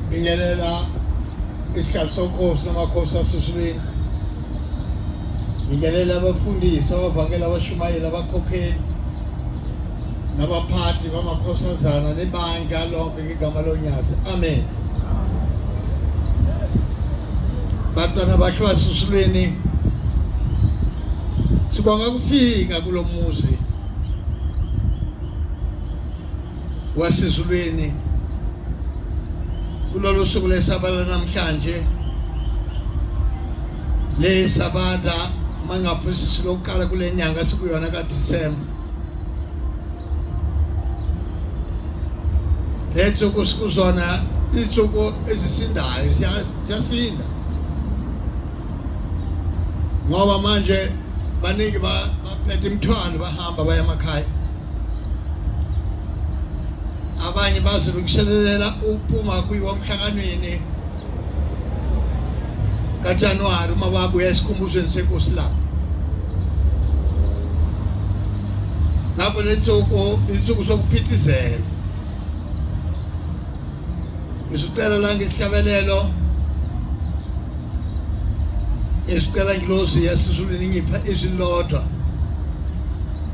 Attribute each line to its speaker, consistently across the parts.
Speaker 1: Bingelela isikhathi sokhosi namakhosi asesibini. Bingelela abafundisi abavakela abashumayeli abakhokheli nabaphathi bamakhosazana nebandla lonke ngegama lonyazi amen bantwana bakhe basusulweni sibonga kufika kulo muzi wasezulwini kulolu suku lesabata namhlanje le sabata mangaphosisi lokuqala kule nyanga sikuyona kadisemba le ntsuku sikuzona iintsuku ezisindayo ziyasinda ngoba manje baningi baphethe imithwalo bahamba baya emakhaya abanye bazilungiselelela ukuphuma kwiwamhlakanweni kaJanuwari uma babuya esikhumbuzweni senkosi labo lapho le ntsuku insuku sokuphithizela ngisicela la ngesihlabelelo esicela ngilozi yasizulini ngipha izwi lodwa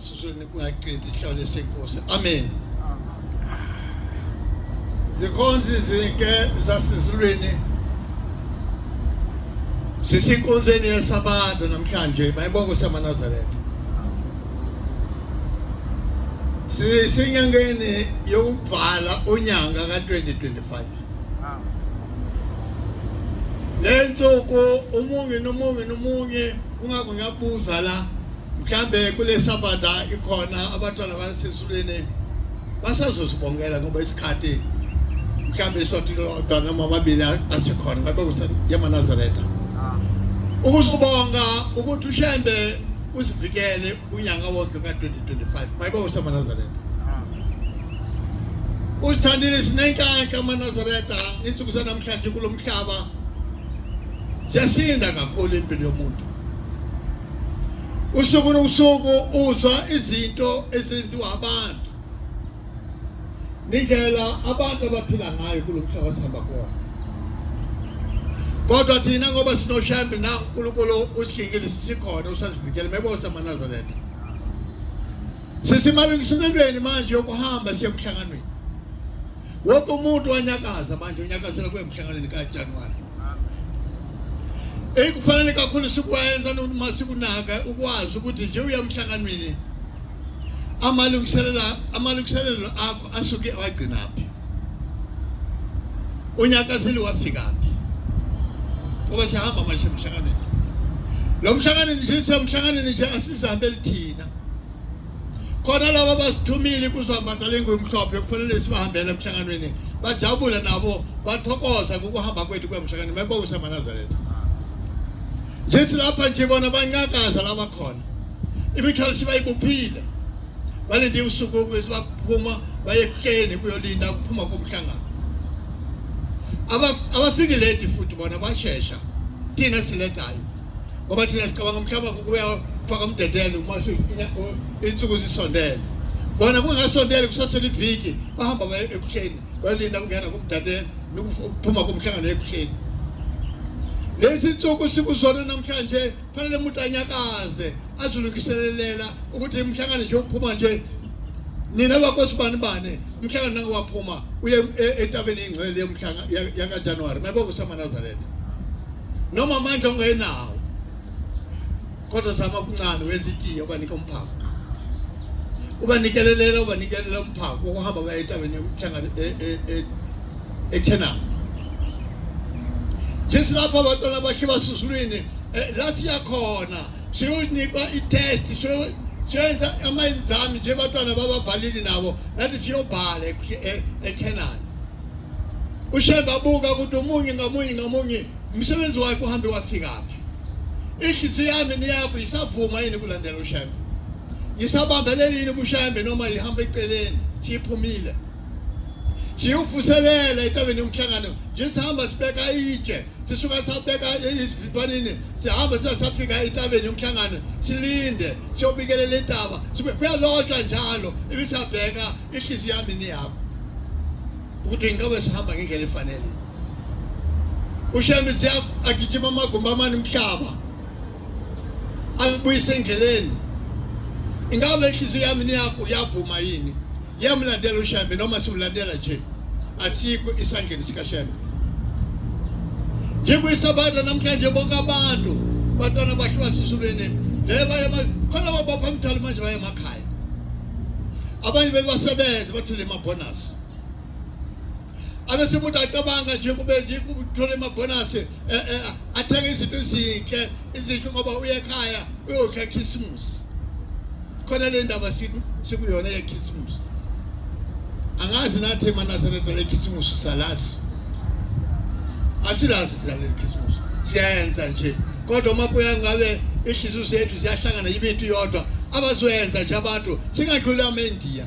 Speaker 1: Sizweni kungaqedi ihlale senkosi. Amen. Zikhonzi zinke zasizulweni sisinkonzeni yesabatha namhlanje mayibongo samanazaretha sisenyangeni yokubhala unyanga ka-2025 le nsuku umunye nomunye nomunye Kungakho ngiyabuza la mhlambe kule sabada ikhona abantwana basesulwini basazosibongela ngoba isikhathi mhlambe isonto lodwa noma amabili asekhona ngabe kuseyemanazareta ah. ukusibonga ukuthi ushembe usivikele unyaka wonke ka-2025 mayibe usemanazareta ah. usithandile sinenkanka amanazareta insuku zanamhlanje kulo mhlaba Siyasinda kakhulu impilo yomuntu. Usuku nosuku uzwa izinto ezenziwa abantu. Nindlela abantu abaphila ngayo kulomhlaba sihamba kuwona. Kodwa thina ngoba sinoshembe na uNkulunkulu usikhingile sikhona usasivikele mebose amaNazaretha. Sisimalungiselelweni manje yokuhamba siye kuhlanganweni. Wonke umuntu wanyakaza manje unyakazela kuye emhlanganweni kaJanuwari. ekufanele kakhulu sikwenza noma sikunaka ukwazi ukuthi nje uyamhlanganweni amalungiselela amalungiselelo akho asuke wagcinaphi unyaka seli wafikaphi ngoba sihamba manje emhlanganweni lo mhlanganweni nje semhlanganweni nje asizihambeli thina khona laba basithumile kuzwambata lengumhlophe kufanele sibahambele emhlanganweni bajabule nabo bathokoza ngokuhamba kwethu kwemhlangano mebonisa manazaretha njethi lapha nje bona bancakaza laba khona imithwalo sibayibuphile balinde usuku ukuze baphuma baye ekukeni kuyolinda ukuphuma komhlangano abafiki late futhi bona bashesha thina siledayo ngoba thina sicabanga umhlaba kubuya faka umdedele uma insuku zisondele bona kungasondele kusasele iviki bahamba baye ekuhleni bayolinda kungena kumdadele nokuphuma komhlangano ekuhleni lezi nsuku sikuzona namhlanje fanele umuntu anyakaze azilungiselelela ukuthi imhlangano nje uphuma nje nina bakosibani bane mhlanga nake waphuma uye e-, etabeni ingcwele yomhlanga yakajanuwari mayiba kusamanazaretha noma manje ungayenawo kodwa sama kuncane wenza itiye ubanika umphako ubanikelelela ubanikelela umphako wokuhamba baya etabeni yomhlanga ekhenani e-, e-, Jesu lapho abantwana bakhe basusulwini eh, la siyakhona siyonikwa i-test siyoyenza amayenzami nje batwana bababhalili nabo nathi siyobhala ekhenani e, ushembe abuka ukuthi omunye ngamunye ngamunye umsebenzi wakhe uhambe wafikaphi inhliziyo yami niyakho isavuma yini kulandela ushembe ngisabambelele yini kushembe noma ihamba eceleni siyiphumile siyovuselela etabeni yomhlangano nje sihamba sibeka itshe sisuka sabeka izivivanini sihamba siza safika entabeni yomhlangano silinde siyobikelela intaba kuyalotshwa njalo ibisabheka ihliziyo yami niyakho ukuthi ingabe sihamba ngendlela efanele ushembe siya agijima amagumbi amane umhlaba angibuyise endleleni ingabe inhliziyo yami niyakho yavuma yini Yamlandela uShembe noma simlandela nje asikho isandleni sikaShembe. Njengokuyisabata namhlanje bonke abantu bantwana bakhe basisulweni le baye khona babapha umthali manje baye emakhaya. Abanye bebasebenza bathole ama-bonus. abese umuntu acabanga nje kube yikuthola amabhonasi eh, eh, athenge izinto ezinhle ezinhle ngoba uye ekhaya uyokha khisimusi khona le ndaba sikuyona yekhisimusi angazi nathi emanazaretha lekhisimusi salazi asilazi thina leli khisimusi siyayenza nje kodwa uma kuya ngabe ihliziyo zethu ziyahlangana yibintu yodwa abazoyenza nje abantu singadluli ama-indiya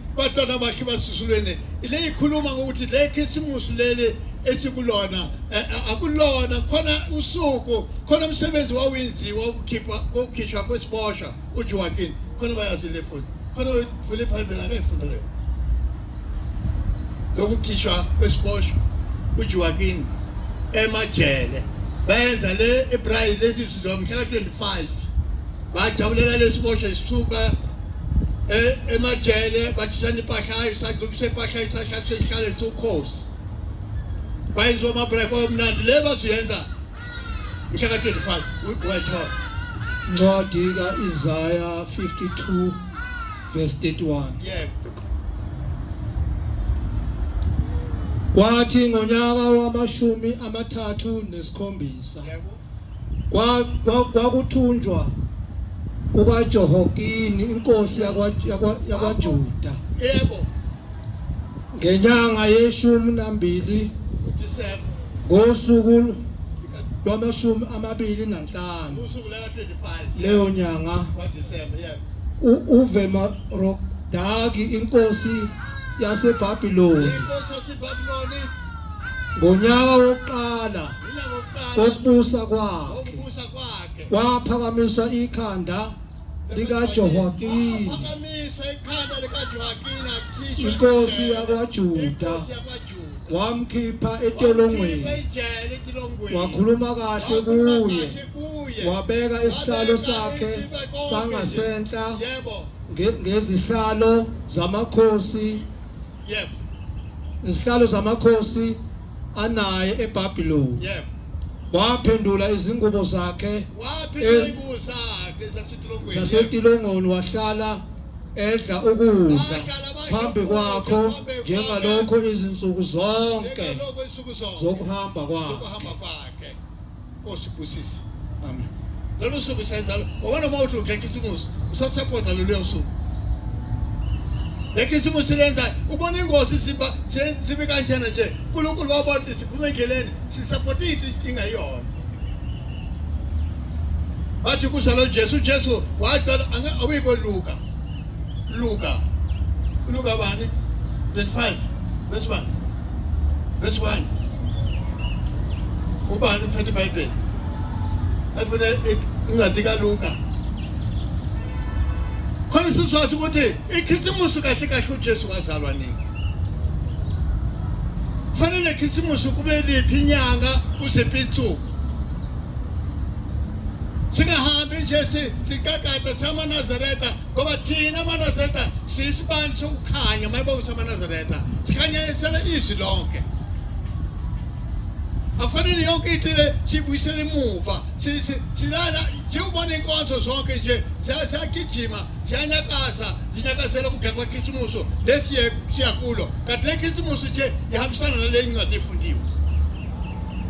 Speaker 1: batwana bakhe basusulweni le ikhuluma ngokuthi le khisimusi leli esikulona eh, eh, akulona khona usuku khona umsebenzi wawenziwa ukukhipha kokukhishwa kwesiboshwa uJoaquin khona bayazi le futhi khona uvule iBhayibheli akayifunda leyo lokukhishwa kwesiboshwa uJoaquin emajele bayenza le eBraille lezi zizwa mhla ka-25 bajabulela lesiboshwa isithuka E, emajele batshishana impahla isagcukisa impahla isashatha esihlale siwukhosi bayenza omabreak omnandi le bazuyenza mhla ka-25 wayithola ncwadi
Speaker 2: ka-isaya 52 verse 31
Speaker 1: yebo
Speaker 2: kwathi ngonyaka wamashumi amathathu nesikhombisa yebo
Speaker 1: kwakuthunjwa
Speaker 2: kwa, kwa kukaJehokini inkosi yakwaJuda yebo ngenyanga yeshumi nambili
Speaker 1: ngosuku
Speaker 2: lwamashumi amabili nanhlanu
Speaker 1: leyo nyanga uvema rodaki
Speaker 2: inkosi yaseBabiloni ngonyaka wokuqala kokubusa kwakhe
Speaker 1: kwaphakamisa
Speaker 2: ikhanda likaJohwakini
Speaker 1: inkosi
Speaker 2: yakwaJuda wamkhipha etolongweni wakhuluma kahle kuye wabeka isihlalo sakhe sangasenhla
Speaker 1: ngezihlalo
Speaker 2: zamakhosi Yebo. Izihlalo zamakhosi anaye eBabiloni. Yebo.
Speaker 1: Waphendula
Speaker 2: izingubo zakhe. Waphendula eh, izingubo
Speaker 1: zakhe zasetilongweni. Zasetilongweni
Speaker 2: wahlala edla ukudla phambi kwakho njengalokho izinsuku zonke zokuhamba kwakhe.
Speaker 1: Nkosi busisi. Amen.
Speaker 2: Lolu suku
Speaker 1: senza wabona uma uthi ukhekisimusi usasapota lolu suku. Lekhisimusi lenza ubona ingozi simba sibe kanjena nje. uNkulunkulu wabona siphume endleleni sisapota into isinga yona. Bathi kusalo Jesu Jesu waqala awikoluka. Luka. Luka bani? 25. Verse 1. Verse 1. Ubani uphethe iBhayibheli? Efuna incwadi kaLuka. Khona sizwazi ukuthi ikhisimusi kahle kahle uJesu wazalwa nini? Kufanele ikhisimusi kube liphi inyanga kuziphi insuku? singahambi nje siqaqada samanazaretha ngoba thina amanazaretha siyisibani sokukhanya uma yibonga samanazaretha sikhanyisela izwi lonke akufanele yonke into le siyibuyisele emuva silala siwubona inkonzo zonke nje siyagijima siyanyakaza zinyakazela ukugeka kwekhisimuso lesi siyakulo kanti le khisimuso nje ihambisana nale ncwadi efundiwe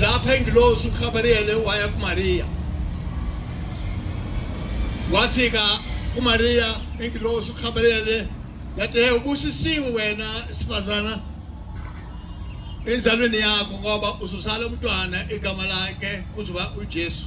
Speaker 1: lapha ingilosi uGabriyele waya kuMariya wafika kuMariya ingilosi uGabriyele yathi hey ubusisiwe wena sifazana enzalweni yakho ngoba uzuzala umntwana igama lakhe kuzoba uJesu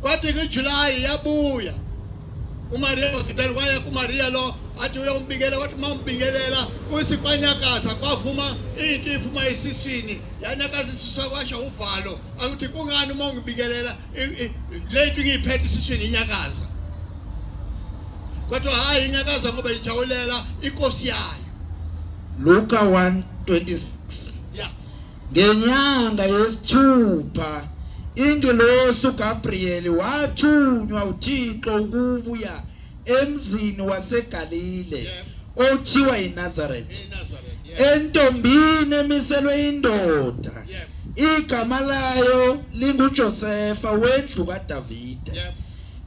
Speaker 1: Kwathi kuJulayi yabuya uMaria Magdalena waya kuMaria lo athi uyombikela wathi uma umbingelela kuthi kwanyakaza kwavuma into iphuma esiswini yanyakaza isisu kwasho uvalo akuthi kungani uma ungibikelela le nto ngiyiphethe esiswini inyakaza kodwa hhayi inyakaza ngoba ijawulela
Speaker 2: inkosi
Speaker 1: yayo luka 1
Speaker 3: 26 Ngenyanga yesithupha ingelosi uGabriyeli wathunywa uThixo ukubuya emzini waseGalile othiwa yiNazaretha entombini emiselwe indoda igama layo linguJosefa wendlu kaDavide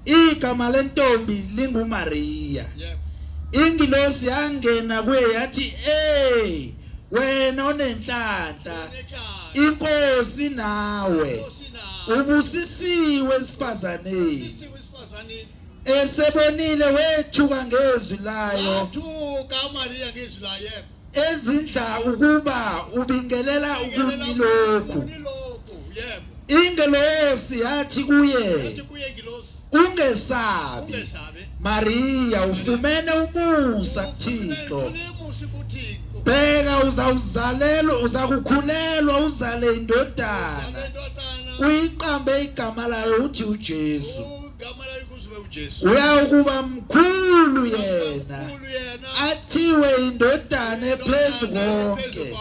Speaker 3: igama lentombi linguMariya ingilosi yangena kuye yathi eh wena onenhlanhla inkosi nawe ubusisiwe esifazaneni esebonile wethuka ngezwi layo wathuka uMariya ngezwi layo ezindla ukuba ubingelela ukuni lokhu ingelosi yathi kuye Ungesabi. Maria ufumene umusa kuThixo. Bheka uzawuzalelwa uzakukhulelwa uzale indodana. Uyiqambe igama layo uthi uJesu. Uyakuba mkhulu yena. Athiwe indodana ephezu konke.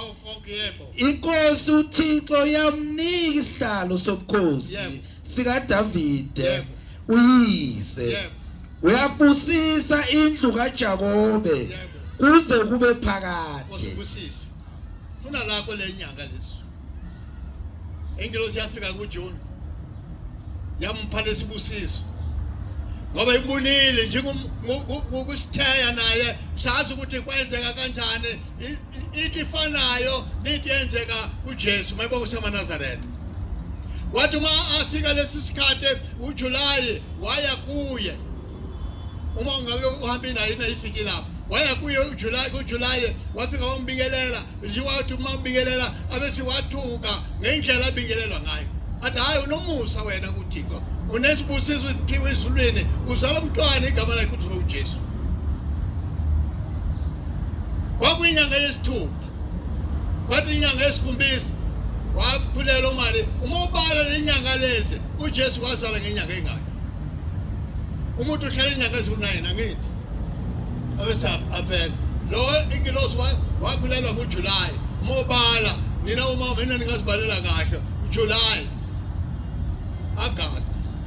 Speaker 3: Inkosi uThixo yamnika isihlalo sobukhosi. sikaDavide uyise uyabusisa indlu kaJakobe kuze kube phakade osibusise
Speaker 1: funa lakho lenyanga leso ingilosi yafika kuJune yampha lesibusiso ngoba ibunile njengokusitheya naye sazi ukuthi kwenzeka kanjani into ifanayo nento yenzeka kuJesu mayiba usemanazareth wathi uma afika lesi sikhathi uJulayi waya kuye uma ungabe uhambe naye nayifiki lapho waya kuye uJulayi kuJulayi wafika wambingelela nje wathi uma ubingelela abese wathuka ngendlela abingelelwa ngayo athi hayi unomusa wena kuThixo unesibusiso esiphiwe ezulwini uzala umntwana igama lakhe kuthiwa uJesu kwakuyinyanga yesithupha kwathi inyanga yesikhombisa wakhulelwa umali uma ubala le nyanga lezi ujesu wazala ngenyanga engaki umuntu uhlala inyanga eziwu-nine angithi abesaphi aphela lo ingilosi wakhulelwa ngujulayi uma ubala nina uma vena ningazibalela kahle ujulayi agasti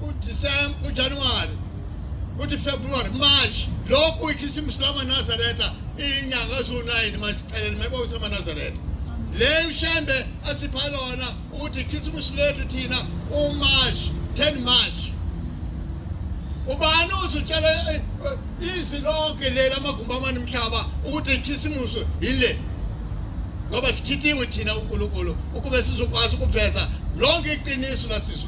Speaker 1: kuDisemba, kuJanuwari, kuthi February, March, lokhu ikhisimusi lamaNazaretha iyinyanga eziwu-nine maziphelele mayibonisa amaNazaretha. Le ushembe asipha lona ukuthi ikhisimusi lethu thina uMarch, 10 March. ubani uzutshela eh, eh, izwi lonke lela amagumbi amane mhlaba ukuthi ikhisimusi yile ngoba sikhithiwe thina unkulunkulu ukube sizokwazi ukuveza lonke iqiniso lasizwe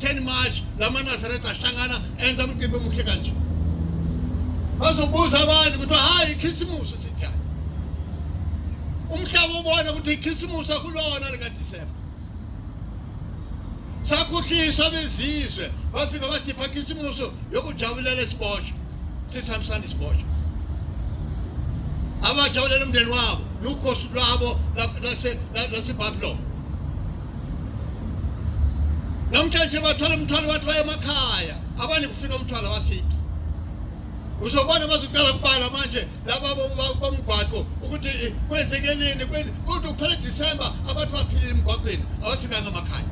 Speaker 1: 10 March lama Nazareth ahlangana enza umcimbi omuhle kanje bazobuza abantu ukuthi hayi ikhisimusi sinjani umhlaba ubona ukuthi ikhisimusi akulona likaDisemba sakhuhliswa bezizwe bafika basipha ikhisimusi yokujabulela isiboshwa sisihambisana isiboshwa abajabulela umndeni wabo nukhosi lwabo lasebabylon namhlanje bathwala umthwalo bathi baye emakhaya abanye kufika umthwalo abafiki uzobona bazoqala kubala manje laba bomgwaqo ukuthi eh, kwenzeke nini kodwa kuphela disemba abantu baphilile emgwaqweni abafikanga emakhaya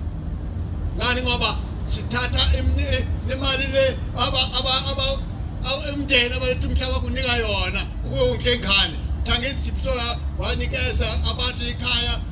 Speaker 1: ngani ngoba sithatha eh, imali le umndeni abaletha umhlaba kunika yona ukuyonkengane thangeni sipsola wanikeza abantu ikhaya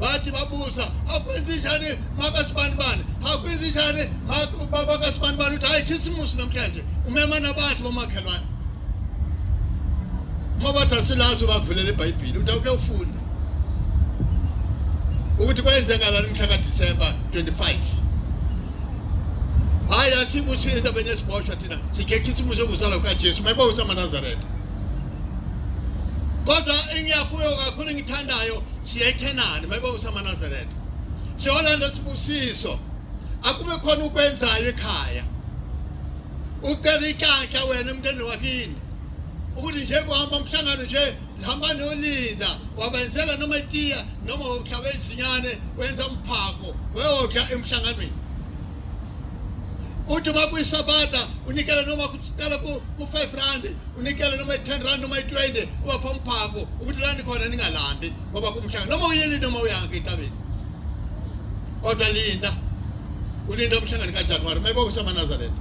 Speaker 1: bathi babuza akwenzenjani makasibanibani akwenzenjani baba kasibanibani ukuthi hayi khisimusi namhlanje umema nabathi bomakhelwane uma bathi asilazi ubavulela ibhayibhili uthi awuke ufunde ukuthi kwenzekalani mhla kadisemba 25 hayi asikuthi endabeni yesiboshwa thina sikhe khisimusi okuzalwa kukajesu mayiba usamaNazaretha kodwa engiyakuyo kakhulu engithandayo siya ekhenani mayiba usamanazaretha siyolanda sibusiso akube khona ukwenzayo ekhaya ucela ikanhla wena emnteni wakini ukuthi nje kuhamba umhlangano nje hamba nolinda wabenzela noma itiya noma uhlaba izinyane wenza umphako weyodla emhlanganweni uthi uma kuyisabata unikela noma sicela ku-five rand unikele noma i-ten rand noma i-twenty ubapha umphako ukuthi lani khona ningalambi ngoba kumhlanga noma uyeni noma uyange entabeni kodwa linda ulinda umhlangano kajanuwari uma kwakusamaNazaretha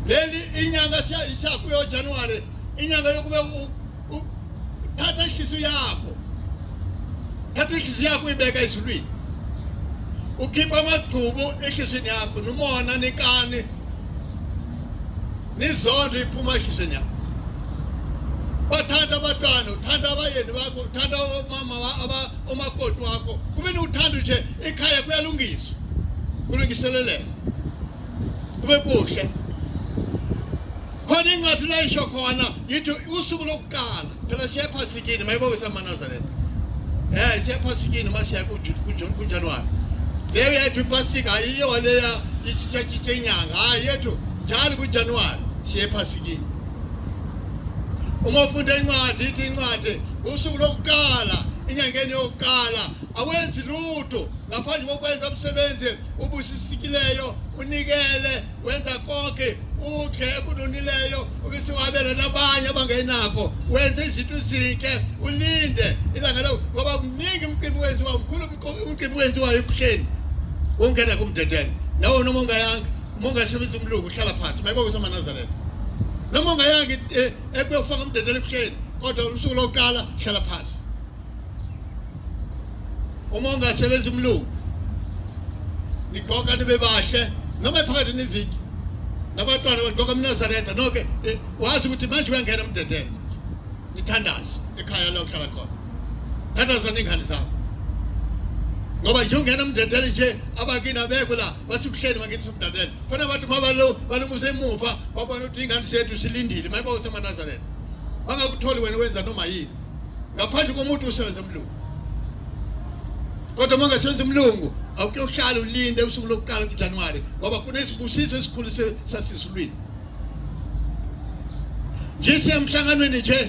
Speaker 1: leli inyanga siyakuyo January inyanga yokube thatha inhliziyo yakho thatha inhliziyo yakho uyibeka ezulwini ukhipha amagcubu enhliziyweni yakho nomona nekani nizondla iphuma ehlizweni yakho bathanda abantwana uthanda abayeni bakho uthanda omama omakoti wakho kumele uthande nje ekhaya kuyalungiswa kulungiseleleka kube kuhle khona incwadi layisho khona yithi usuku lokuqala phela siya ephasikini mayiboke samanazaretha um eh, siya ephasikini uma siya kujanuwari leyo yethu ipasika ayiyo leya itshitshatshitsha inyanga hayi yethu njalo kujanuwari siya ephasikini uma ufunda incwadi ithi incwadi usuku lokuqala enyangeni yokuqala awenzi lutho ngaphandle kokwenza umsebenzi obusisikileyo unikele wenza konke ukhe ekunonileyo ubisiwabela nabanye abangenakho wenza izinto ezinhle ulinde ilanga lawo ngoba kuningi umcimbi wenziwa mkhulu umcimbi wenziwayo ebuhleni wongena kumdedele nawo noma ungayanga uma ungasebenzi umlungu uhlala phansi mayibo kusamanazaretha noma ungayanga eh, ekuyofaka umdedele ebuhleni kodwa usuku lokuqala hlala phansi uma ungasebenza umlungu nigqoka nibe bahle noma phakathi neviki nabantwana bagqoka mnazareta noke eh, wazi ukuthi manje uyangena emdedela nithandaze ekhaya la uhlala khona thandaza ningane zakho ngoba nje ungena emdedela nje abakini abekho la basikuhleni bakithi somdadela khona abantu mabalo balumusa emuva babona ukuthi ingane sethu silindile mayiba usemanazareta bangakutholi wena wenza noma yini ngaphandle komuntu usebenza umlungu kodwa uma ungasebenza umlungu awuke uhlale ulinde usuku lokuqala kujanuwari ngoba kunesibusiso esikhulu sasisulwini nje siyemhlanganweni nje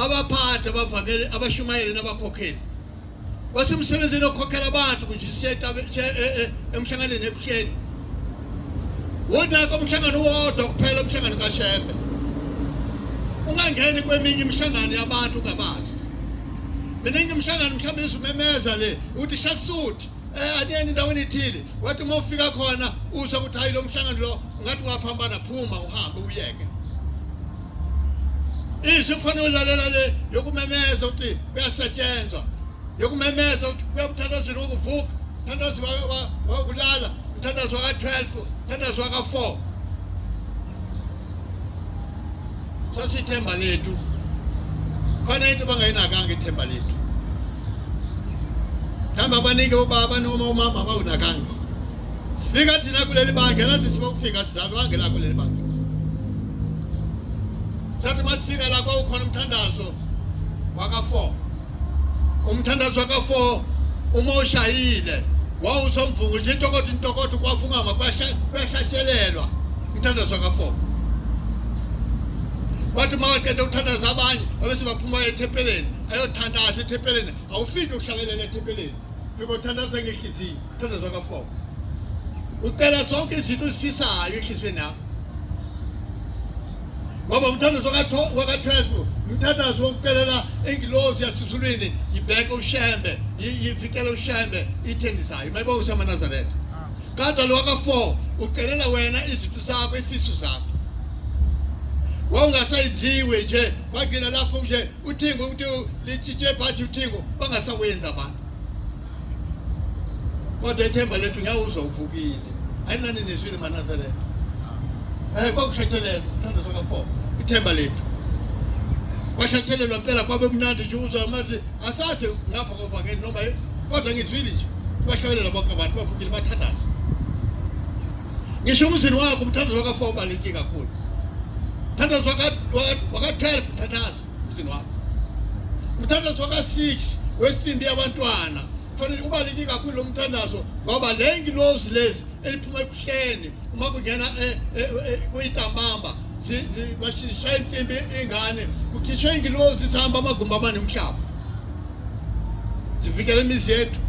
Speaker 1: abaphathi abavakele abashumayeli nabakhokheli wasemsebenzini okhokhela abantu kunje siye emhlanganweni ebuhleni wonake umhlangano wodwa kuphela umhlangano kashembe ungangeni kweminye imihlangano yabantu ungabazi mina ngimhlangano mhlawumbe izumemeza le uthi shatsuthi eh aniyeni endaweni ethile wathi uma ufika khona usho ukuthi hayi lo mhlangano lo ngathi waphambana phuma uhambe uyeke izwi kufanele ulalela le yokumemeza ukuthi kuyasetshenzwa yokumemeza ukuthi kuyamthandazela ukuvuka mthandazi wakulala mthandazi waka-12 mthandazi waka-4 sasithemba lethu khona into bangayinakanga ithemba lethu mhlawumbe abaningi obaba noma umama abawunakanga sifika thina kuleli bandla nathi sibokufika sizalwange la kuleli bandla sathi masifika la kwawukhona umthandazo waka-four umthandazo wakafo uma ushayile wawusomvuku nje intokodo intokodo kwavungama kwahlatshelelwa umthandazo wakafo wathi uma waqeda ukuthandaza abanye abese baphuma ethempeleni ayothandaza ethempeleni awufiki ukuhlabelela ethempeleni fika uthandaza ngehliziyo uthandaza wakafo ucela zonke izinto uzifisayo enhliziyweni yakho ngoba umthandazo waka-12 umthandazo wokucelela ingilozi yasizulwini yibheke ushembe yivikele ushembe ithendisayo mayibonga usamanazaretha kodwa lo waka-four ucelela wena izinto zakho ifiso zakho wawungasayiziwe nje kwagcina lapho nje uthingo ukuthi litshintshe phathi uthingo bangasakwenzi abantu kodwa ethemba lethu ngiyawuzwa uvukile ayinani nizwile manazareta um eh, kwakushatshelelwa thanda sokafo ithemba lethu kwashatshelelwa mpela kwabe kumnandi nje uzwa amazi asazi ngapha kovangeli noma kodwa ngizwile nje bahlabelelwa bonke abantu bavukile bathandaza ngisho umzini wakho umthandazo waka-four ubaluleke kakhulu mthandazo waka-twelve mthandazi umzini wakho umthandazo waka-six wesimbi yabantwana kufanele ubaluleke kakhulu lo mthandazo ngoba le ngilozi lezi eliphuma ebuhleni uma kungena eh, eh, eh, kuyintambamba bashaya insimbi ingane kukhishwe ingilozi sihamba amagumbi amanemhlaba zivikela imizi yethu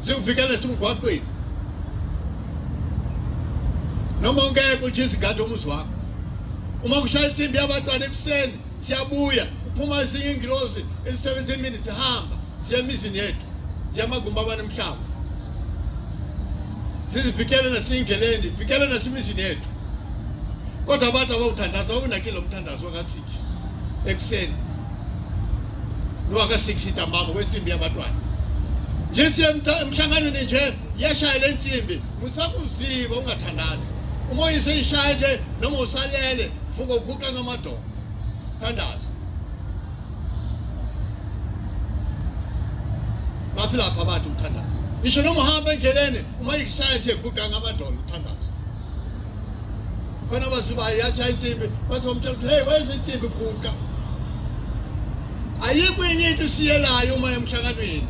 Speaker 1: siwuvikela simgwaqweni noma ungeke uthi izigadi omuzi wakho uma kushaya insimbi yabantwana ekuseni siyabuya kuphuma ezinye ingilosi ezisebenza emini sihamba siya emizini yethu siya amagumbi abane mhlaba sizivikele nasiyindleleni vikele nasemizini yethu kodwa abantu abawuthandaza awunakile umthandazo kasi ekuseni nowaka-six intambama kwensimbi yabatwana nje siye emhlanganweni nje iyashaya le nsimbi musakuziba ungathandazi uma uyise ishaya nje noma usalele vuka uguqa ngamadolo thandaza bathi lapha abantu uthandaza isho noma uhamba endleleni uma ishaya nje guqa ngamadolo uthandaza khona baziba yasha insimbi bathi wamtshela ukuthi hey wayesha insimbi guqa ayikho enye into isiyelayo uma emhlanganweni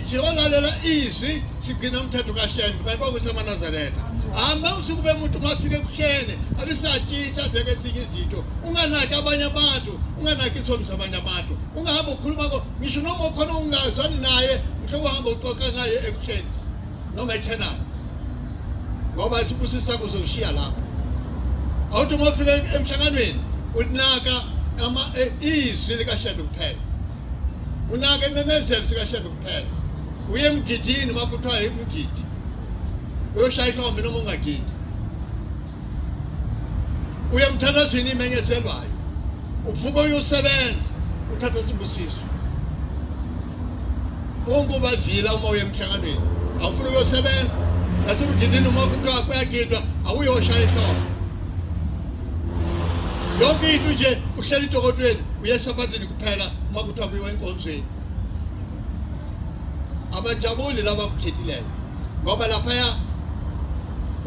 Speaker 1: siyolalela izwi sigcina umthetho kashembe bayiba ukuthi amanazaretha hamba usuku bemuntu mafike kuhlele abisatshintsha abheke ezinye izinto unganaki abanye abantu unganaki isono zabanye abantu ungahambe ukhuluma ko ngisho noma ukhona ungazwani naye mhlobo uhamba uxoxa ngaye ekuhleni noma eKhenani ngoba isibusiso sakho uzoshiya lapho awuthi uma ufika emhlanganweni ulinaka ama eh, izwi likashembe kuphela unaka imemezelo sikashembe kuphela uye emgidini uma kuthiwa yimgidi uyoshaya ihlombe noma ungagidi uya emthandazweni imenye eselwayo uvuka uyosebenza uthatha sibusiso unguba vila uma uye emhlanganweni awufuna uyosebenza nasemgidini uma kuthiwa kuyagidwa awuyoshaya ihloko yonke into nje uhleli idokotweni uyesabatini kuphela uma kuthiwa kuyiwa enkonzweni abajabuli laba kukhethileyo ngoba laphaya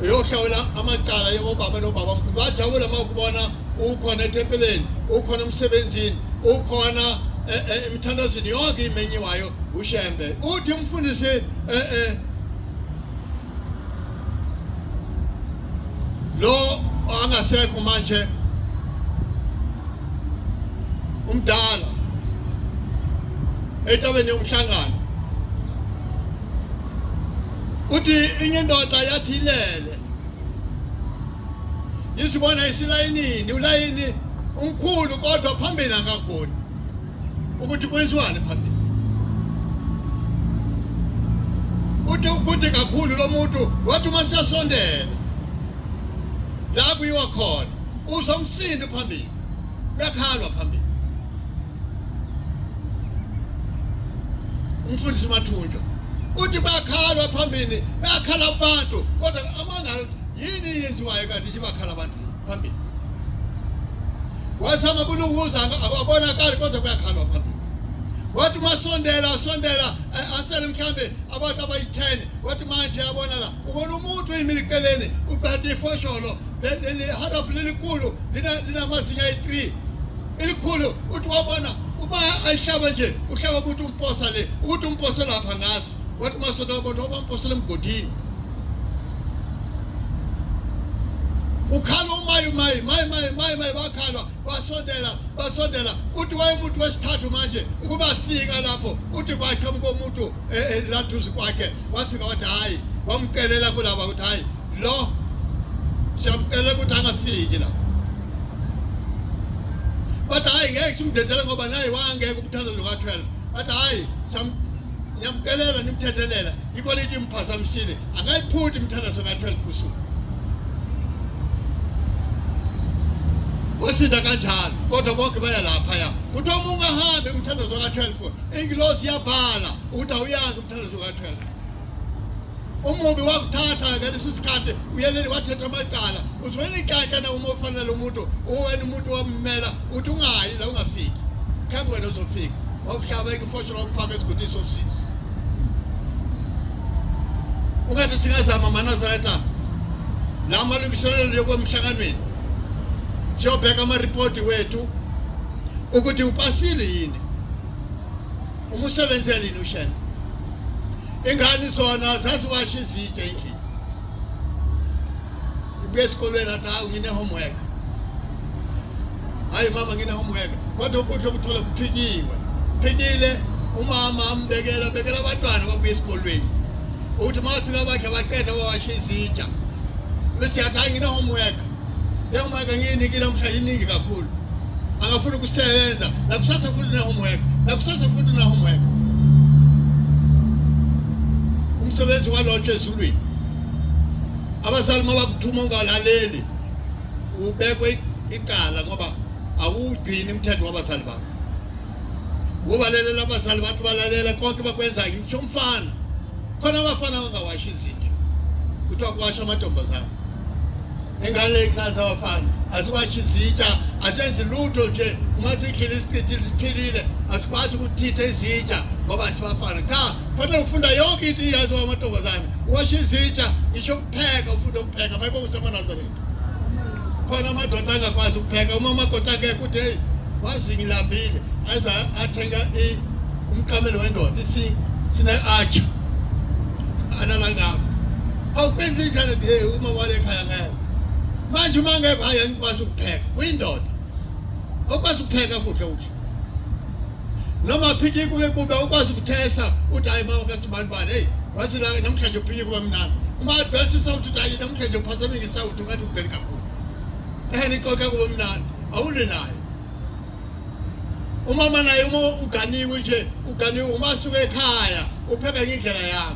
Speaker 1: uyohlawula amacala yobaba nobaba mkhulu bajabula uma ukubona ukhona etempeleni ukhona emsebenzini ukhona eh, eh, emthandazweni yonke imenyiwayo ushembe uthi umfundisi eh, lo angasekho manje umdala etabeni yomhlangano uthi inye indoda yathi ilele isibona isilayinini ulayini umkhulu kodwa phambili akakuboni ukuthi kwenziwani phambili uthi ukude kakhulu lo muntu wathi uma siyasondela la kuyiwa khona uzwa umsindo phambili kuyakhalwa phambili umfundisi umathunjwa uthi bakhalwa phambili bakhala abantu kodwa amanga yini yenziwayo kanti nje bakhala abantu phambili wasama kulunguza ababonakali kodwa kuyakhalwa phambili wathi masondela asondela asele mhlambe abantu abayi-ten wathi manje yabona la ubona umuntu uyimilikeleni ubhade ifosholo leli harafu lelikhulu linamazinyo ayi-three elikhulu uthi wabona uma ayihlaba nje uhlaba ukuthi umposa le ukuthi umposa lapha ngazi wathi masoda wabona waba mposela emgodini ukhala umayi mayi mayi mayi mayi mayi bakhalwa basondela basondela uthi wayemuntu wesithathu manje ukuba fika lapho uthi kwaqhamuka umuntu eh, eh, laduze kwakhe wafika wathi hhayi wamcelela kulaba ukuthi hhayi lo siyamcela ukuthi angafiki la bathi hhayi ngeke simdedele ngoba naye wangeke umthanda lo ka-12 bathi hhayi niyamcelela nimthethelela yikho lithi imphazamisile akayiphuthi imthandazo ka-12 kusuku wasida kanjalo kodwa bonke baya laphaya kuthiwa uma ungahambi umthandazo ka-12 ingilosi iyabhala ukuthi awuyazi umthandazo ka-12 umubi wakuthatha-ke lesi sikhathi uyeleli wathetha amacala uthi wena ikantyana uma ufanele umuntu uwena umuntu wammela uthi ungayi la ungafiki khambe wena uzofika wakuhlabeka ifosho wakufaka esigudini sobusisi ungathi singazama manazareta la malungiselelo yokwemhlanganweni siyobheka amaripoti wethu ukuthi upasile yini Uma usebenzela yini ushembe? Ingane zona zaziwasha izitshe endlini. Ibuye esikolweni athi hawu ngine homework. Hayi mama ngine homework. Kodwa ukudla okuthola kuphikiwe. Phikile umama ambekela bekela abantwana babuye esikolweni. Uthi mafika bakhe baqeda wawasha izitsha. Bese yathi hayi ngine homework. Njengoba-ke ngiyinikile umhla iningi kakhulu, angafuni ukusebenza nakusasa futhi nahomweka nakusasa futhi nahomweka umsebenzi walotshwa ezulwini abazali uma bakuthuma ungalaleli ubekwe icala ngoba awugcini umthetho wabazali bakho Ukubalalela abazali bathi balalela konke bakwenza ngitsho umfana. Khona abafana abangawashi izinto. Kuthiwa kuwasha amantombazane. Ingane ichaza abafana asiwashi izitsha asenzi lutho nje uma sikhile isichithe siphilile asikwazi ukuthitha izitsha ngoba sibafana cha fanele ufunda yonke into iyaziwa amantombazane uwasha izitsha ngisho pheka ufunde ukupheka mayibo usemanazareni khona amadoda angakwazi ukupheka uma umakoti akekho uthi heyi wazi ngilambile aze athenga umqamelo wendoda sine-atsha analangabo awukwenza injalo nje uma wale ekhaya ngeke manje uma ngeke hayi angikwazi ukupheka uyindoda okwazi ukupheka kudla ukudla noma phiki kube kube ukwazi ukuthesa uthi hayi mama kasibani bani hey wathi la namhlanje uphiki kube mnandi uma advance isawuthi uthi hayi namhlanje uphazamile isawuthi ungathi ubheli kakhulu ehe nixoxe kube mnandi awule naye umama naye uma uganiwe nje uganiwe uma asuke ekhaya upheka ngendlela yakho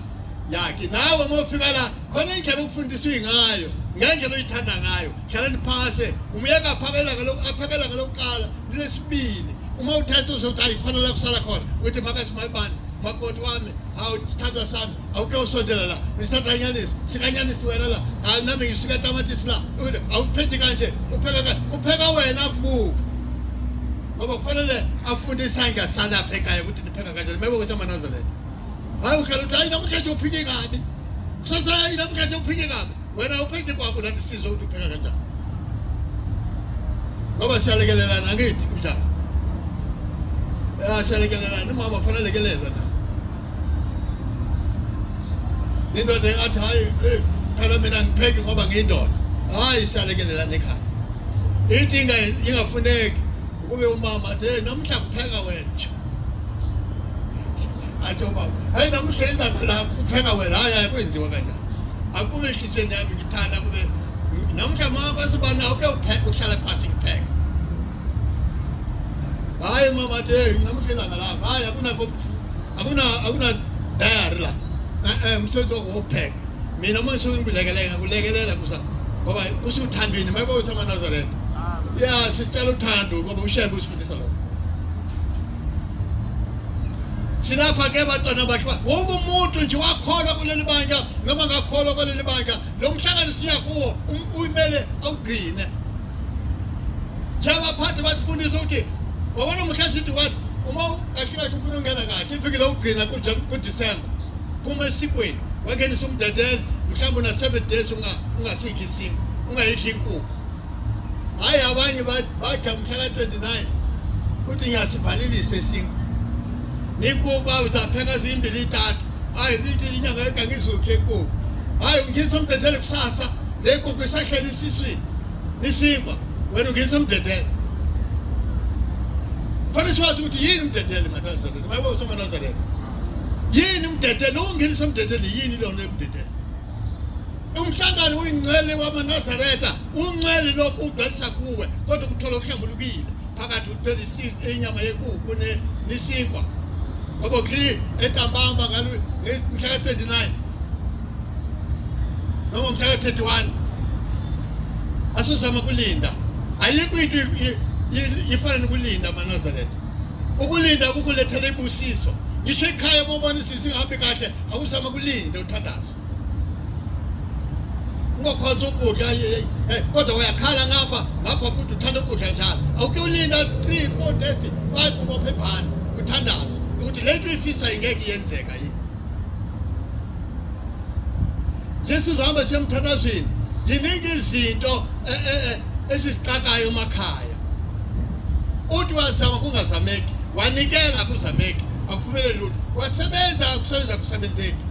Speaker 1: yakhe nawe uma ufika la khona indlela okufundiswe ngayo ngendlela oyithanda ngayo Ngicela niphase. Umyeka aphakela ngalokhu aphakela ngalokuqala lilesibili. Uma uthatha uzothi ayikhona la kusala khona. Uthi makasimayibani makoti wami hawu sithandwa sami awuke usondela la ngisithatha anyanisi sikanyanisi wena la hayi nami ngisika tamatisi la awuphethi kanje upheka kanje upheka wena akubuka ngoba kufanele afunde isandla salapha ekhaya ukuthi nipheka kanjani mebe ukuthi amanazareth hayi ukhala ukuthi hayi namhlanje uphike kabi kusasa hayi namhlanje uphike kabi wena uphethe kwakho lani sizwe ukuthi upheka kanjani ngoba siyalekelelana ngithi kunjani siyalekelelana umama kufanele lekelelwe na indoda engathi hhayi phela mina ngipheki ngoba ngiyindoda hhayi siyalekelelana ekhaya into ingafuneki ukube umama athi hey namuhla kupheka wena athi umama hayi namuhla ilanga lakho kupheka wena hhayi hhayi kwenziwa kanjani Akube inhliziyo yami ngithanda kube namhla mama basibana uke upheke uhlala phansi ngipheke. Hayi mama nje namhla langa la. Hayi akuna akuna akuna diary la. Eh eh msebenzi wokupheka. Mina uma ngisuke ngibilekelela kulekelela kusa ngoba kusho uthandweni mayibona uSamanazaretha. Ah. Ya sicela uthando ngoba ushebe usifundisa lokho. silapha ke bantwana bahle wonke umuntu nje wakholwa kuleli bandla noma ngakholwa kuleli bandla lo mhlangano siya kuwo uyimele awugcine njengabaphathi basifundisa ukuthi wabona muhle sithi wani uma kahle kahle ufuna ungena kahle ivikile ukugcina kudisemba phuma esikweni wangenisa umdedele mhlawumbe una-seven days ungasidli isinga ungayidli inkukhu Hayi abanye bathi mhla ka-29 kuthi ngiyasivalilisa esingu nikuba uzapheka zimbili itatu hayi zithi inyanga yonke angizukhe ekuku hayi ungisa umdedele kusasa le kuku isahleli isiswini isinkwa wena ungisa umdedele khona siwazi ukuthi yini umdedele manazareta mayibo somanazareta yini umdedele ukungenisa umdedele yini lona emdedele umhlangano uyingcwele wamanazaretha ungcwele lokhu udalisa kuwe kodwa ukuthola okuhlambulukile phakathi uthwele inyama yekuku nesinkwa ngoba kli entambamba ngalo mhla ka-29 noma mhla ka-31 asizama kulinda ayikho into ifana nokulinda amanazaretha ukulinda kukulethela ibusiso ngisho ekhaya uma ubona izinto zingahambi kahle awuzama kulinda Thandaza. Ungakwazi ukudla eh, eh, kodwa uyakhala ngapha ngapha futhi uthanda ukudla njalo. Awuke ulinda 3 4 days 5 ubophe ibhani uthandaza ukuthi le nto ifisa ingeke yenzeka yini. Jesu uhamba semthandazweni ziningi izinto eh, eh, eh, ezisixakayo emakhaya uthi wazama kungazameki wanikela kuzameki akuphumele lutho wasebenza kusebenza kusebenzeki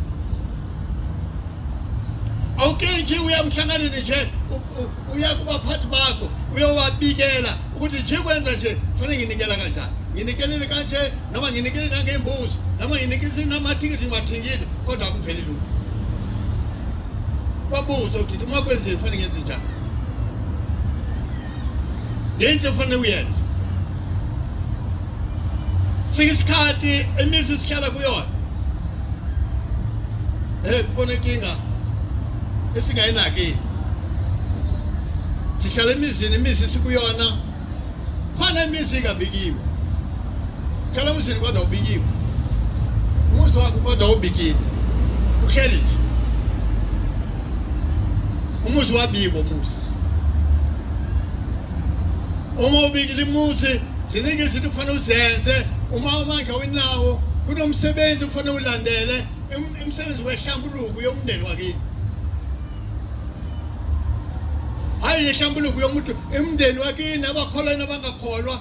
Speaker 1: awuke nje uya emhlanganweni nje uya kubaphathi bakho uyowabikela ukuthi nje kwenza nje kufanele nginikela kanjani nginikelele kanje noma nginikele nangembuzi noma nginikele namathikithi ngiwathengile kodwa akupheli lutho babuze ukuthi uma kwenziwe kufanele ngenze njani yini lefane uyenze siyisikhathi imizi sihlala kuyona eh kubona inkinga esingayinaki sihlala emizini imizi sikuyona khona imizi ingabikiwe Khala umzini kodwa ubikiwe. Umuzi wakho kodwa ubikiwe. Uhleli nje. Umuzi wabibo umuzi. Uma ubikile imuzi ziningi izinto kufanele uzenze uma umandla wenawo kunomsebenzi kufanele ulandele umsebenzi wehlambuluko yomndeni wakini hayi yehlambuluko yomuntu emndeni wakini abakholwa nabangakholwa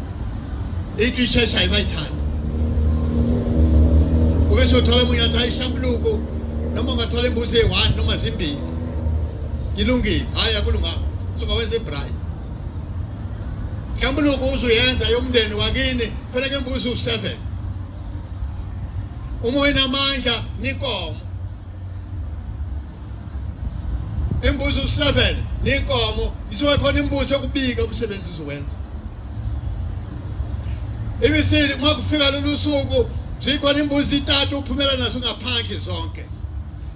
Speaker 1: into isheshayo bayithanda ube sothola umuntu athi ayihlambuluko noma ungathola imbuzi eyi-one noma zimbili ilungile hhayi akulunganga sungawenza ibrayi hlambuluko uzuyenza yomndeni wakini faneke imbuzi u-seven uma wenamandla nikomo imbuzi u-seven niyinkomo isuke khona imbuzi yokubika umsebenzi uzowenza ibisile uma kufika lolu suku zikhona imbuzi itatu uphumela nazo ngaphandle zonke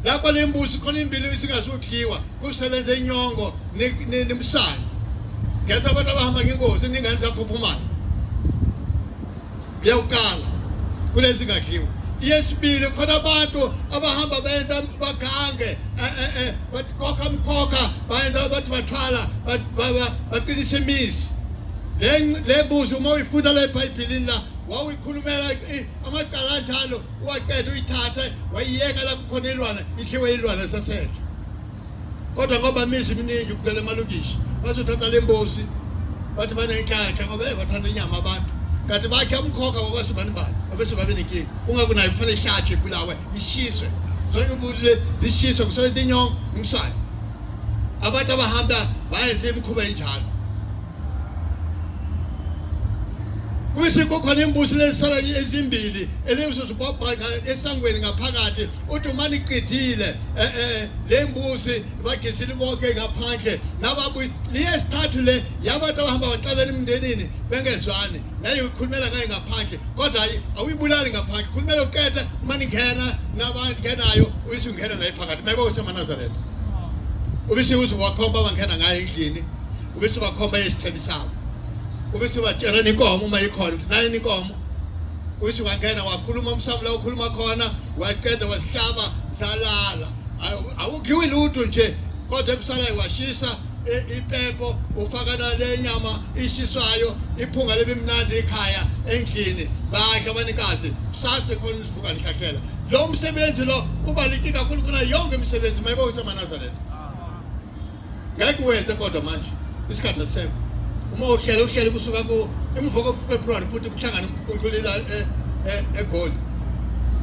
Speaker 1: lapho le mbuzi khona imbili isingazudliwa kusebenza inyongo nemsana ngenza abantu abahamba ngengozi ningane zaphuphumayo Leyokuqala kulezi ngakhiwe yesibili khona abantu abahamba benza bagange eh, eh, eh, bakhokha mkhokha bayenza bathi bathwala baqinisa imizi le mbuzi uma uyifunda la ebhayibhilini la wawuyikhulumela amacala anjalo uwaqeda uyithathe wayiyeka la kukhona ilwana idliwe ilwana sasetha kodwa ngoba imizi iminingi kugcwele amalokisha bazothatha le mbozi bathi banenhlanhla ngoba hey bathanda inyama abantu kanti bakhe umkhokha ngokwasibani bani obese babe nenkinga kungakho nayo kufanele ihlatshwe ibulawe ishiswe zonke ubulile zishiswe kusoyithi inyongo umsane abantu abahamba bayenze imikhuba enjalo Kuyise kukhona imbusi lesisala ezimbili elingizwe zibabhaka esangweni ngaphakathi uDumani iqidile eh, eh, le mbusi bagisile bonke ngaphandle nababuyi liyesithathu le yabantu abahamba baqabela emndenini bengezwani naye ukhulumela ngaye ngaphandle kodwa hayi awuyibulali ngaphandle khulumela uqeda uma ningena nabangenayo uyise ungena naye phakathi mayiba usemanazareta ubise ukuthi wakhomba abangena ngaye endlini ube sibakhomba yesithembi sawo ube sibatshela ninkomo uma ikhona nayo ninkomo uthi wangena wakhuluma umsabula ukhuluma khona waqeda wasihlaba salala awugiwi lutho nje kodwa ekusalayo washisa ipepo ufaka nale nyama ishiswayo iphunga lebimnandi ekhaya endlini bakhe abanikazi kusase khona isivuka lihlakhela lo msebenzi lo ubaluleke kakhulu kuna yonke imisebenzi mayibe usemanazareth ngeke uwenze kodwa manje isikhathi asisekho uma uhlele uhlele kusuka ku emva kofebruwari futhi umhlangano untulila e- e- egoli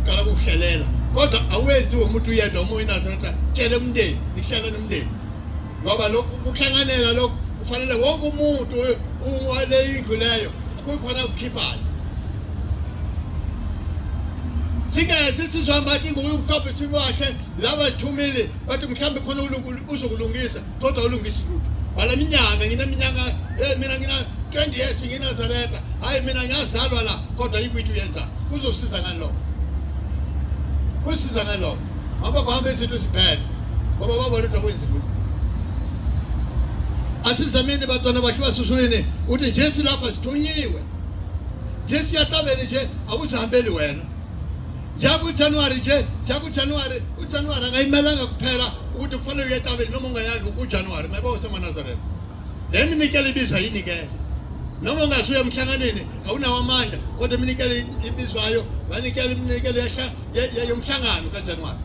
Speaker 1: qala kukuhlelela kodwa awenzi womuntu uyedwa uma uyinazareta tshele umndeni nihlele nomndeni ngoba lokhu kuhlanganela lokhu kufanele wonke umuntu wale indlu leyo kukhona ukukhiphayo singezi sizohamba ingokukhapha isiwahle laba thumile bathi mhlawumbe khona uzokulungisa kodwa ulungisi lutho bhala minyaka ngineminyaka eh, mina ngina 20 years nginazareta hayi mina ngiyazalwa la kodwa yikwithu uyenza kuzosiza ngani lokho kusiza ngani lokho ngoba kuhamba izinto ziphele ngoba babona ukuthi akwenzi lutho asizameni bantwana bakhe basusulini ukuthi nje silapha sithunyiwe nje siyahlabele nje awuzihambeli wena Siya ku-January nje, siya ku-January. UJanuary akayimelanga kuphela ukuthi kufanele uye etabeni noma ungayazi uJanuary. Mayiba usemanazareth. Le minikelo ibizwa yini ke? Noma ungasuye emhlanganweni awunawo amandla kodwa iminikelo ibizwayo wanikela iminikelo yomhlangano kaJanuary.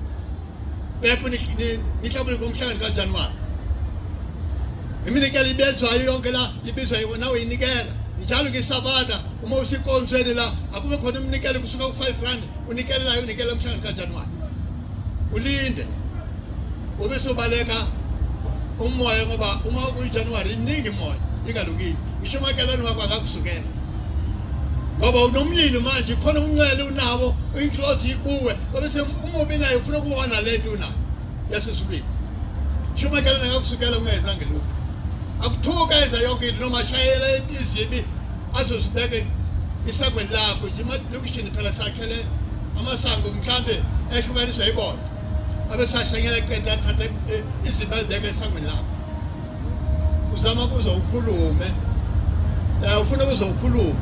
Speaker 1: Bepho nihlabule ngomhlangano kaJanuwari. Iminikelo ibezwayo yonke la ibizwa yiwo nawe yinikela. Njalo ke sabana uma usikonzweni la akube khona iminikelo kusuka ku-5 rand unikelelayo unikela umhlangano kaJanuwari. Ulinde. Ube sobaleka umoya ngoba uma uyiJanuwari iningi moya ingalukile. Ngisho umakhelwane wakho akakusukela. ngoba unomlilo manje khona umncele unawo inhlozi ikuwe Obese umubi naye ufuna ukuwona le nto unayo yasesibili. Shumakela nakakusukela ungayenzanga lutho. Akuthuka enza yonke into noma ashayela izibi azozibeke isangweni lakho nje emalokishini phela sakhele amasango mhlambe ehlukaniswa yibona abesashanyela qeda athatha izibi azibeke esangweni lakho. uzama kuze ukhulume eh, ufuna kuze ukhulume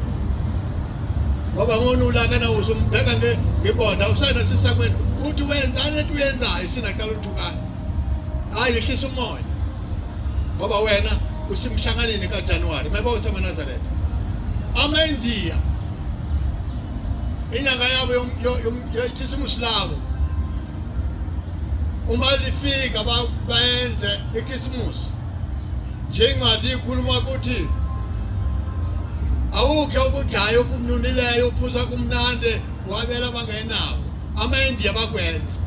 Speaker 1: ngoba ngona ulakana uze umbheka ngebonda usana sisakwena uthi wenzani ethi uyenzayo sinaqala uthukana hayi yehlisa umoya ngoba wena usimhlanganeni kajanuwari mayeba usemanazareth amaindiya inyanga yabo yokhisimusi labo uma lifika bayenze ikhisimusi njengathi ikhuluma ukuthi awukhe ukudlaya okumnunileyo uphuza kumnandi wabela abangenako amaindiya bakwenza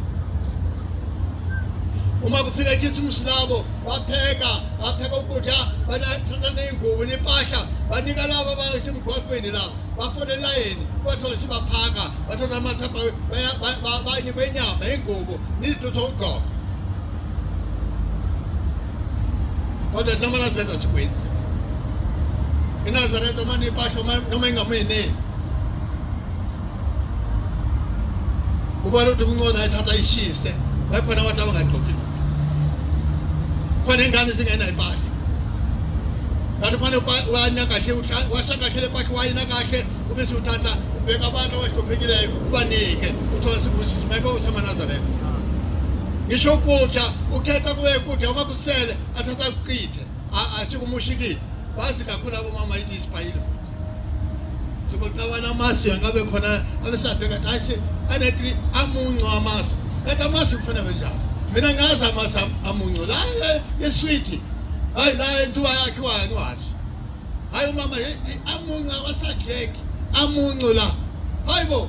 Speaker 1: uma kufika ikhisimusi labo bapheka bapheka ukudla banathatha ney'ngubo nempahla banika labo abasemgwaqweni labo bafona elayini bathola sibaphaka bathatha amanzi bayinikwa inyama ingubo nizitutha ukugqoka kodwa noma nazenza sikwenzi inazaretha uma nipasho noma ingamuyeneni ubona ukuthi kuncono ayithatha ishise bakhona abantu abangagqoki khona ingane zingenayo impahla kanti fane wayina kahle washa kahle lepahla wayina kahle ube siwuthatha ubheka abantu abahluphekileyo ubanike uthola sibusiso maybe usamanazareth ngisho ukudla ukhetha kube kudla uma kusele athatha kuchithe asikumushikile bazi kakhulu abomama yini isibhayile futhi sekuqabana amasi angabe khona abesabheka kathi hayi se anetri amuncu amasi kanti amasi kufana benjani mina ngazi amasi amuncu la eswiti hayi la enziwa yakhiwa angiwazi hayi umama amuncu awasakheki amuncu la hayi bo